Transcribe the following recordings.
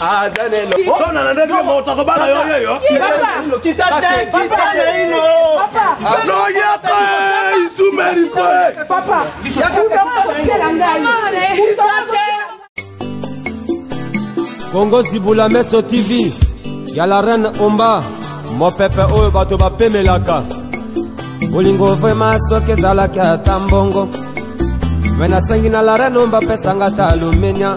aza neno sona na ndenge moto akobala yo yeyo kita te kita naino loyaka isumeli mpe papa yakakutela ngai kita te kongo zibula meso tv ya la reine omba mopepe oyo bato bapemelaka bolingo vrema soki ezalaki ata mbongo me nasengi na la reine omba pesanga ata alumenia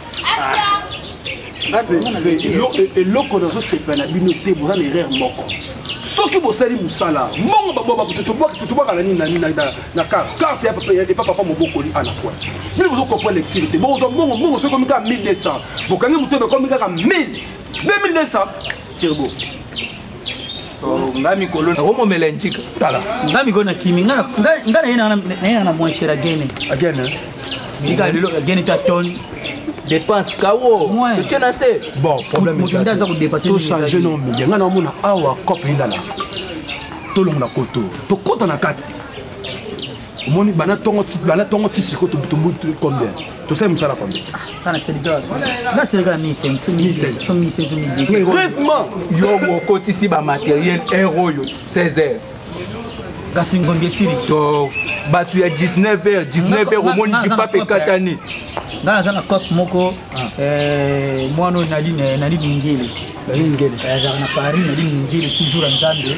eloko nazosepela na bino te boza na erreur moko soki bosali mosala mbongo babwakatobwaka na nini na nini na karte epa papa mobokoli ana poi bino bozokopa lecture te bokozwa mbongo mbongo soki ekomi kaka 1200 bokangi moto ekomi kaka 1000 2200 tirbo Oh, nga mikolo nakomomela njika tala nga mikolo nakimi nga naye nanga na moincher agene agene milika lelo agene ta tone dépense kawo totie na se bon problème tochange no media nga naomona awa cope endala tolongola koto tokota na kati omoni bana tongo bana tongo ti siko tobutumbu combien tosali mosala combien brefement yo okotisi bamateriel heure oyo 16 heures kasi ngongi esili to bato ya 19 heures 19 heures omoni kipape ekatani nga naza na cope moko ah. eh, mwana oyo nali ningele azalaka na paris nali ningele toujours ya nzambe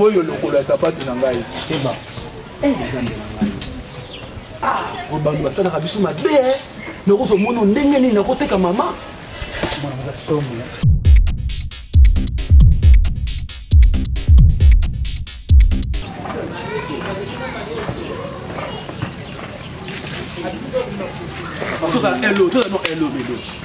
oyo lokolo ya sapatu na ngai eba nzambe na ngai oyo bantu basalaka biso mabe eh. nakoso mono ndenge nini nakoteka mama mwana moza somo tozala elo tozala no elo lelo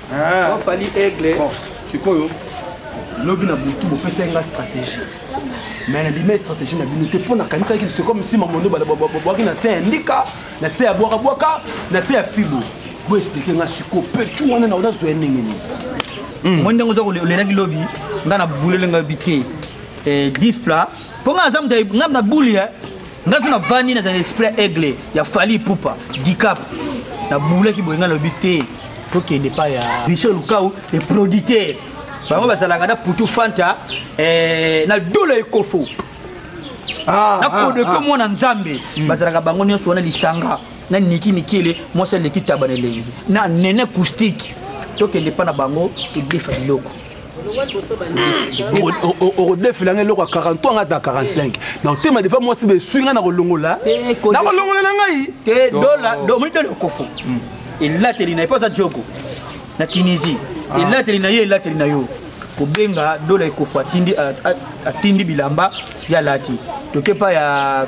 Ah. Fally Aigle. Bon, sikoyo lobi na butu bopesa nga stratégie mais na bima stratégie na bino te mpo nakanisaki c'est comme si mamondo babwaki na se ya ndika na se ya bwakabwaka na se ya fibo boexplike nga siko petu wana na odazwa ya ndenge nini hmm. moi ndenge oza olelaki lobi nga na bulele nga bi te 10 eh, plat mpo nga naza moto nga na buli eh. nga kuna vandi naza na esprit ya aigle ya fali pupa dicap nabulaki boye nga nalobi te tokende pa ya michel lukau eproduit te bango bazalaka na putu fanta eh, na dola ekofo ah, nakodeke ah, ah. mwana nzambe hmm. bazalaka bango nyonso wana lisanga na niki mikele mwasi aleki taba na elengi na nene acoustique tokende pa na bango todefa biloko okodefela ngai eloko ya 43 ngai ata 45 na otema defa mwasi besui ngai na kolongola na kolongola na ngai te dola omoni dola okofo hmm. elateli na ye mpo aza jogo na tunisie ah. elateli na ye elateli na yo kobenga dola ekofo atindi bilamba ya lati toke pa ya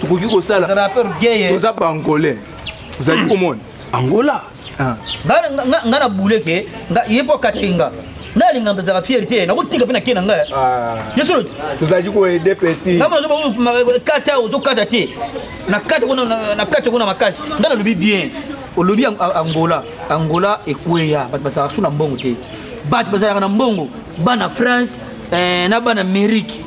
tokoki kosala toza baangolais ozali komona angola ah. nga na bule ke ye mpo akataki nga nalinga mpezaka fiere te nakotika mpe na ke na ngai ah. yo solo tozalaki koede peti kata ozokata te na kati kuna makasi nga nalobi bien olobi angola angola ekweya bato bazalaka su na mbongo te bato bazalaka na mbongo bana france eh, na bana amerike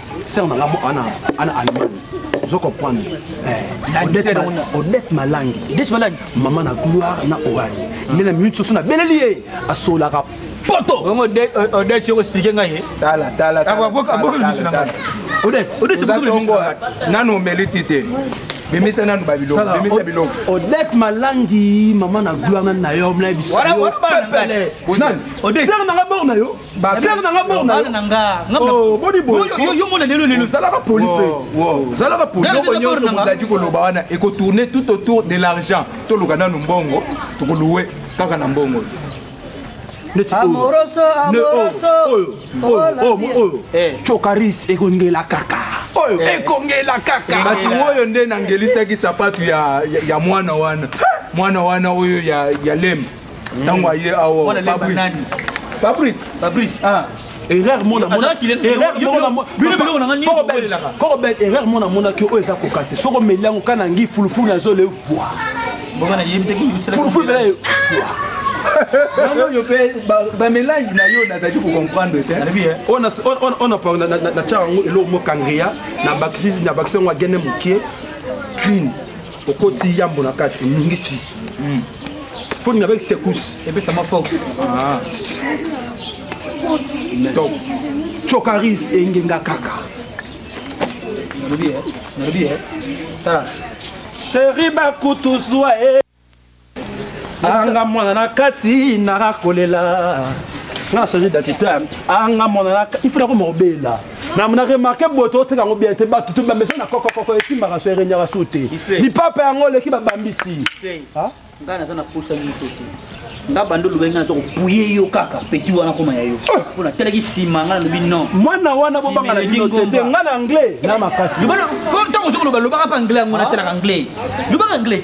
sœur na ngai ana ana allemagne ozo comprendre eh, odette malangi mama na gloire na orani ah. nde na minute soso nabeleli ye asolaka poto odette yoko explike ngai ye abokeli biso na ngai odette odette nanu omeli ti te bimisa nanu babiloko bimisa biloko odette malangi mama na gloire nani na yo mlaye biso odette sœur na ngai bor na yo Basere na nga bor na yo. Oh, boni boy. Yo yo mona lelo lelo zalaka poli pe. Zalaka poli. Yo konyo so mozaki ko loba wana et ko tourner tout autour de l'argent. To loka nanu mbongo, to ko louer kaka na mbongo. Amoroso, amoroso. Oyo, oyo, oyo. Eh. Chokaris ekongela kaka. Oyo eh. ekongela kaka. Basi oyo nde nangelisaki sapatu ya ya mwana wana. Mwana wana oyo ya ya lembe. ntango aye awa fabrice fabrice ah. erreur mona monakokobel erreur mona monaki oyo eza koka te soko omeli yango ka na ngi fulufulu nazo le voi fulufulu bela oyo mpe bamelange na yo nazali kocomprendre te oyo natyaka yango eloko mokangria nabakisi yango agene mokie clean okoti yambo na kati oningisi hmm. foni avec secousse epesama fox ah. donc chokaris engenga kaka nalobi eh? nalobi eh? tala sheri bakutu zwa e eh? anga mwana na kati naka kolela nga change d'identité anga mwana na il faut nakoma kobela na na remarke boye toteka yango bien te bato tobambisa na kokokoko esimbaka so erenyaka su te lipapa yango oleki babambisi ngai naza na posa nyonso te nga bando olobai ngai naza kopuye yo kaka peti wana koma ya yo ah! mpo natalaki nsima ngai nalobi non mwana wana bobanga na bino te ngai na anglais na makasi ntango ozoki loba lobaka mpe anglais yango natalaka anglais lobaka anglais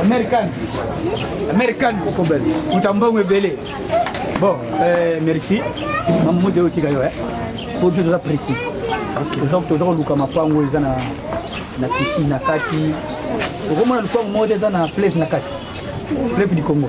American. American. Mutambongo ebele. Bon, euh, merci. Mamu de otika yo, hein. Pour tout ça précis. Donc, toza koluka mapango eza na na piscine na kati. Okomona lupango moko eza na place na kati. Fleuve du Congo.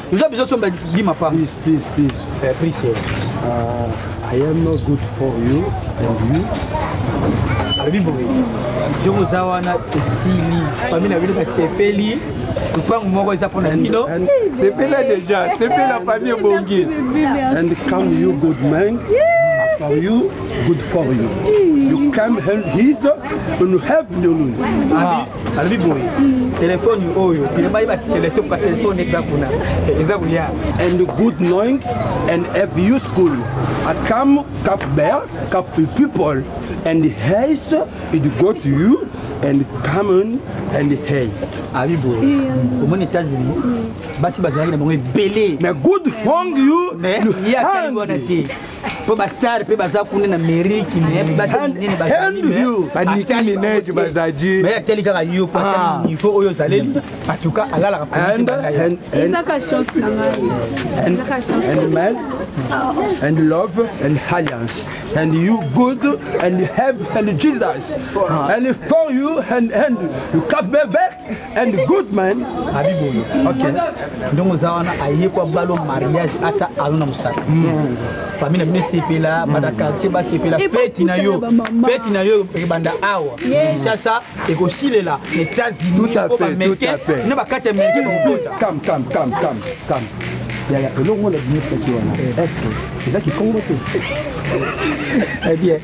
Oza besoin somba bi mapanga. Please, please, please. Eh, please. Eh. Uh, I am not good for you and you. Alobi boye. Yo oza wana esili. Famille na bino basepeli. Lupangu moko eza pona bino. Sepela déjà, sepela famille bongi. And come you good man. Yeah. for you, good for you. You come help his and help your. alobi boye telefone oyo pina bayeba telefone ka telefone eza kuna eza koya and good knowing and if you school at come cap bear cap people and hays it go to you and common and hay abi boye omoni états-unis basi bazalaki na bango ebele mais good fong you mais ye atali wana te mpo bastar mpe baza kuna na meriki mebaminene bazaliatali kaka yo po ah. niveau oyo ozaleli atuka alalaka and love and alliance and you good and have and jesus ah. and for you and and you cap me back and good man abi boye okay. ndongo oza wana aye kwa balo mariage ata alo na mosala mm. famille na bino esepela mm. bana quartier basepela feti na yo feti na yo ebanda awa kinshasa ekosilela na états-unis po bameke na bakati ya meke yaya elongo na bino feti wana eske eza kikongo te eh bien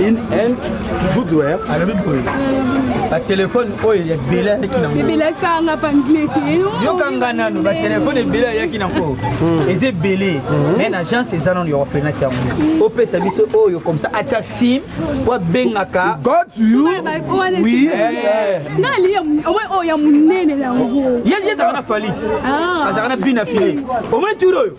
in and goodware alobi boye batelefone oyo ebele ayaki nayoyokanga nano batelefone ebele ayaki na nko hmm. eza ebele hmm. mai na agence eza nano ya orphelinat yango hmm. opesa biso oyo comme ça atia sim po abengaka yezalaka na falite ah. azalaka na bina file omoni tour oyo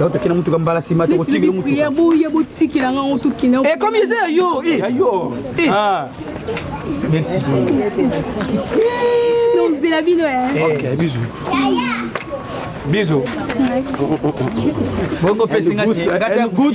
Yo tokenda motuka mbala nsima tokotikela motuka boye botikela nga ngo tokenda ekomi eza ya yo ya yo merci nozela bino ok bisu bisu bongo pesi ngati ngati ya gout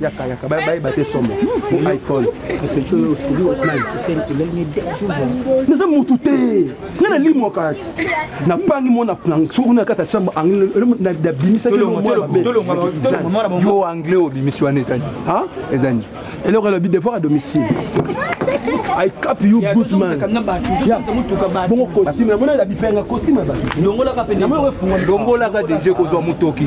yaka yaka bayeba te somo iphone naza motu te nga nalimwaka ati napangi mwana soki kuna kata chambre nabimisakiyo anglais obimisi wana ezani ezani eloko elobi devoir à domicile I cap you yeah, good man. Yeah. Bongo costume, mona la bipenga costume ba. Ndongola ka pe. Ndongola ka deje kozwa mutoki.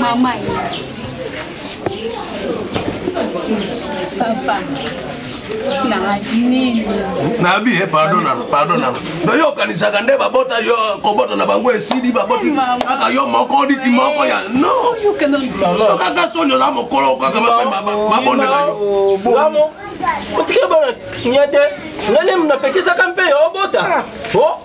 Mama Papa nabi eh, pardon nano pardon nano noyokanisaka nde babota yo kobota na bango esili baboti kaka yo moko liki moko ya nokaka soni oza mokolo kaka babondela yo oh, otikela bana nia te nalemu napekisaka mpe yo obota ah. oh.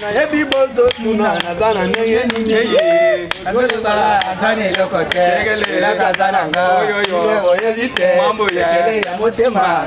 nayebi bozotuna naza na ndenge nini azolobala aza na eloko te elaka aza na nga oyebi te ya motema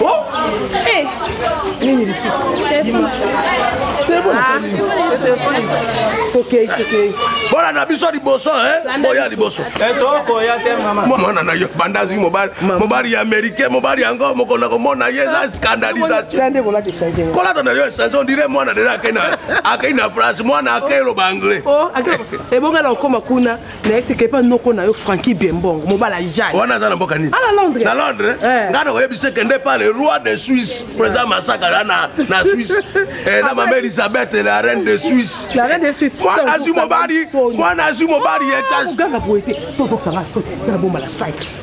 Oh! Eh! Nini lisusu? tokei ah. tokei bola na biso liboso boya liboso eh, tokoya te mama mwana na yo banda azwi mobali mobali ya américain mobali yango mokolo komona ye eza ah. scandalisation kolata na yo echange ondire mwana deja akei na france mwana akei loba anglais oh, ebonga na okoma kuna na esika epa noko na yo franki biembongo mobala jai wana aza na mboka nini ala londres na londres eh. ngai nakoyebisa ekende pa le roi de suisse président masaka ya na, na suisse eh, na mama elisabeth la reine de suisse la reine de suisse mwana azwi mobali mwana azwi mobali ye tasi oganga boye te tozokisanga soki tena bomala site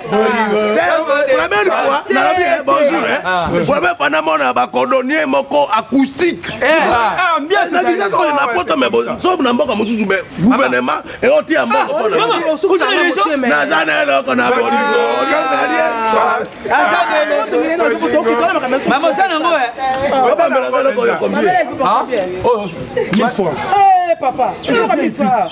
premier fois nalobi eh, bonjour eh. ah. premier fois namona bacordonnier moko acoustique napoto me sobu na mboka mosusu me gouvernement eotiya mbongo naza na eloko na bolingoobambela eloko oyo combien papa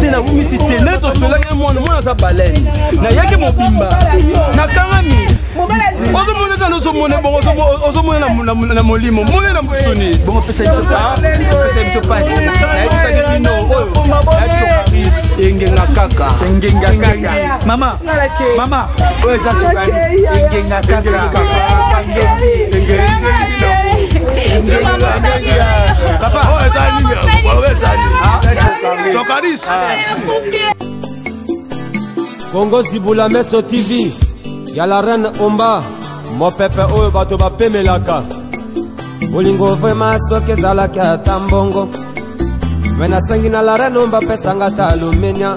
te nabungisi te nde tosolaki mwana mwana aza balene nayaki mobimba nakangami ozomona eza ozomona bongo ozomona na molimo mona na mosuni bongo pesa biso pesa biso pasi nayebisaki bino oyo na cocaris engenga kaka engenga kaka mama mama oyo eza sokanis engenga kaka papa oyo eza nini oyo eza nini sokanis kongo zibula meso tv ya la reine omba mopepe oyo bato bapemelaka bolingo vrema soki ezalaki ata mbongo me nasengi na la reine omba pesanga ata alumenia